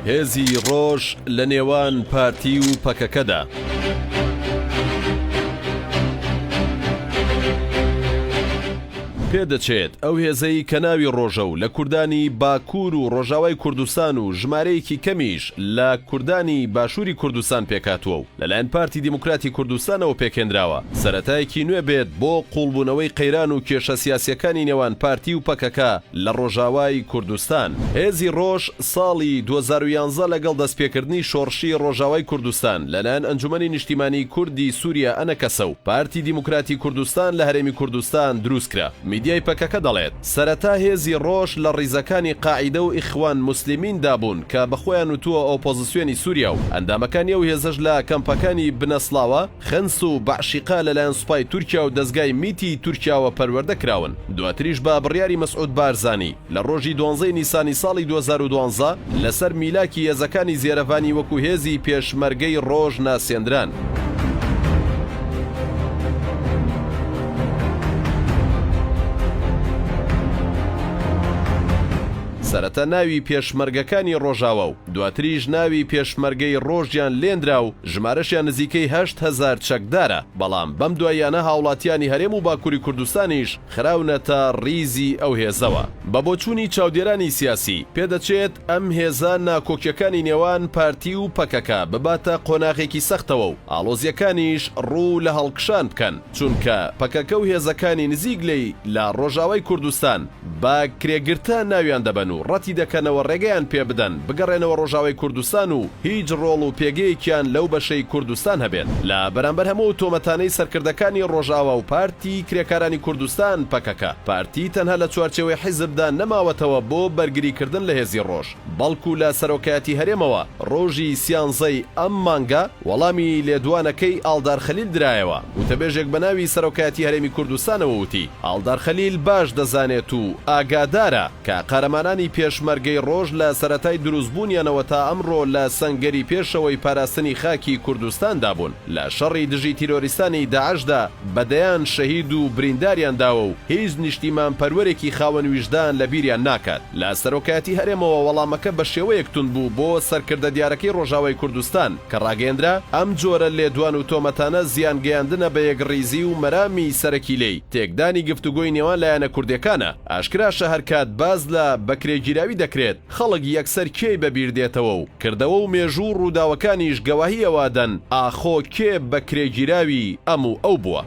هێزی ڕۆژ لە نێوان پارتی و پەکەکەدا. پێدەچێت ئەو هێزەی کە ناوی ڕۆژە و لە کوردانی باکوور و ڕۆژاوای کوردستان و ژمارەیەکی کەمیش لە کوردانی باشووری کوردستان پێکهاتووە و لەلایەن پارتی دیموکراتی کوردستانەوە پێکهێنراوە، سەرەتایەکی نوێ بێت بۆ قووڵبوونەوەی قەیران و کێشە سیاسییەکانی نێوان پارتی و پەکەکە لە ڕۆژاوای کوردستان. هێزی ڕۆژ ساڵی دوو هەزار و یازدە لەگەڵ دەستپێکردنی شۆڕشی ڕۆژاوای کوردستان لەلایەن ئەنجومەنی نیشتیمانیی کوردی سووریا ئەنەکەسە و پارتی دیموکراتی کوردستان لە هەرێمی کوردستان دروستکرا. میدیای پەکەکە دەڵێت، سەرەتا هێزی ڕۆژ لە ڕیزەکانی قاعیدە و ئیخوان موسلیمین دا بوون کە بە خۆیان وتووە ئۆپۆزسیۆنی سووریا و ئەندامەکانی ئەو هێزەش لە کەمپەکانی بنەسڵاوە، خنس و بەعشیقە لەلایەن سوپای تورکیا و دەزگای میتی تورکیاوە پەروەردە کراون. دواتریش بە بڕیاری مەسعود بارزانی، لە ڕۆژی دوانزە ی نیسانی ساڵی دوو هەزار و دوانزە لە سەر میلاکی هێزەکانی زێرەڤانی وەکوو هێزی پێشمەرگەی ڕۆژ ناسێندران. سەرەتا ناوی پێشمەرگەکانی ڕۆژاوا و دواتریش ناوی پێشمەرگەی ڕۆژیان لێنرا و ژمارەشیان نزیکەی هەشت هەزار چەکدارە، بەڵام بەم دواییانە هاوڵاتیانی هەرێم و باکووری کوردستانیش، خراونەتە ڕیزی ئەو هێزەوە. بە بۆچوونی چاودێرانی سیاسی، پێدەچێت ئەم هێزە ناکۆکیەکانی نێوان پارتی و پەکەکە بباتە قۆناغێکی سەختەوە و ئاڵۆزیەکانیش ڕوو لە هەڵکشان بکەن، چونکە پەکەکە و هێزەکانی نزیک لێی لە ڕۆژاوای کوردستان بە کرێگرتە ناویان دەبەن و ڕەتیدەکەنەوە ڕێگەیان پێبدەن بگەڕێنەوە ڕۆژاوای کوردستان و هیچ ڕۆڵ و پێگەیەکیان لەو بەشەی کوردستان هەبێت. لە بەرامبەر هەموو ئەو تۆمەتانەی سەرکردەکانی ڕۆژاوا و پارتی، پارتی کرێکارانی کوردستان، پەکەکە، پارتی تەنها لە چوارچێوەی حیزبدا نەماوەتەوە بۆ بەرگریکردن لە هێزی ڕۆژ، بەڵکو لە سەرۆکایەتی هەرێمەوە ڕۆژی سیانزەی ئەم مانگە وەڵامی لێدوانەکەی ئاڵدار خەلیل درایەوە. وتەبێژێک بە ناوی سەرۆکایەتی هەرێمی کوردستانەوە وتی، ئاڵدار خەلیل باش دەزانێت و ئاگادارە، کە قارەمانانی پێشمەرگەی ڕۆژ لە سەرەتای دروستبوونیانەوە تا ئەمڕۆ لە سەنگەری پێشەوەی پاراستنی خاکی کوردستاندا بوون، لە شەڕی دژی تیرۆریستانی داعشدا بە دەیان شەهید و برینداریان داوە و هیچ نیشتیمانپەروەرێکی خاوەن ویژدان لە بیریان ناکات. لە سەرۆکایەتی هەرێمەوە وەڵامەکە بە شێوەیەک توند بوو بۆ سەرکردە دیارەکەی ڕۆژاوای کوردستان، کە ڕاگەیەندرا، ئەم جۆرە لێدوان و تۆمەتانە زیان گەیاندنە بە یەکڕیزی و مەرامی سەرەکی لێی، تێکدانی گفتوگۆی نێوان لایەنە کوردێکانە. ئاشکراشە هەر کات باس لە، بەکرێگیراوی، دەکرێت، خەڵک یەکسەر کێی بە بیر دێتەوە و کردەوە و مێژوو و ڕووداوەکانیش گەواهی ئەوە دەن، ئاخۆ کێ بەکرێگیراوی ئەم و ئەو بووە؟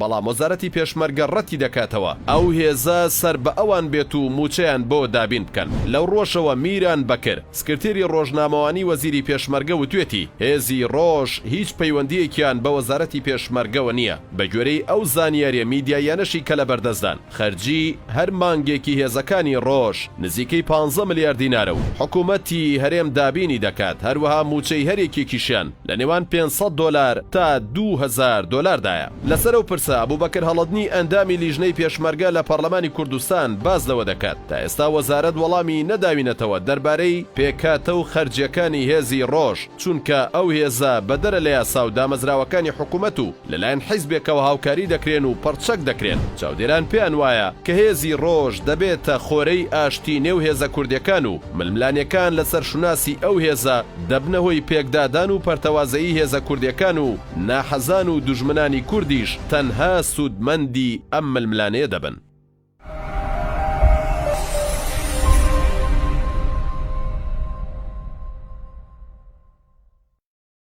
بەڵام وەزارەتی پێشمەرگە ڕەتیدەکاتەوە ئەو هێزە سەر بە ئەوان بێت و مووچەیان بۆ دابین بکەن. لەو ڕووەشەوە میران بەکر، سکرتێری ڕۆژنامەوانی وەزیری پێشمەرگە وتوێتی، هێزی ڕۆژ هیچ پەیوەندییەکیان بە وەزارەتی پێشمەرگەوە نییە، بەگوێرەی ئەو زانیارییە میدیاییانەشی کە لەبەردەستدان، خەرجی هەر مانگێکی هێزەکانی ڕۆژ نزیکەی پانزە ملیار دینارە و حکومەتی هەرێم دابینی دەکات، هەروەها مووچەی هەر یەکێکیشیان. لە نێوان پێنج سەد دۆلار تا دوو هەزار دۆلاردایە. لەسەر ئەو پرسە ئەبوبەکر هەڵەدنی ئەندامی لیژنەی پێشمەرگە لە پەرلەمانی کوردستان باس لەوە دەکات، تا ئێستا وەزارەت وەڵامی نەداوینەتەوە دەربارەی پێکهاتە و خەرجییەکانی هێزی ڕۆژ، چونکە ئەو هێزە بەدەرە لە یاسا و دامەزراوەکانی حکومەت و لەلایەن حیزبێکەوە هاوکاری دەکرێن و پڕچەک دەکرێن. چاودێران پێیان وایە کە هێزی ڕۆژ دەبێتە خۆرەی ئاشتی نێو هێزە کوردێکان و ململانێکان لەسەر شوناسی ئەو هێزە، دەبنە هۆی پێکدادان و پەرتەوازەیی هێزە کوردێکان و ناحەزان و دوژمنانی کوردیش تەنها سودمەندی ئەم ململانێیە دەبن.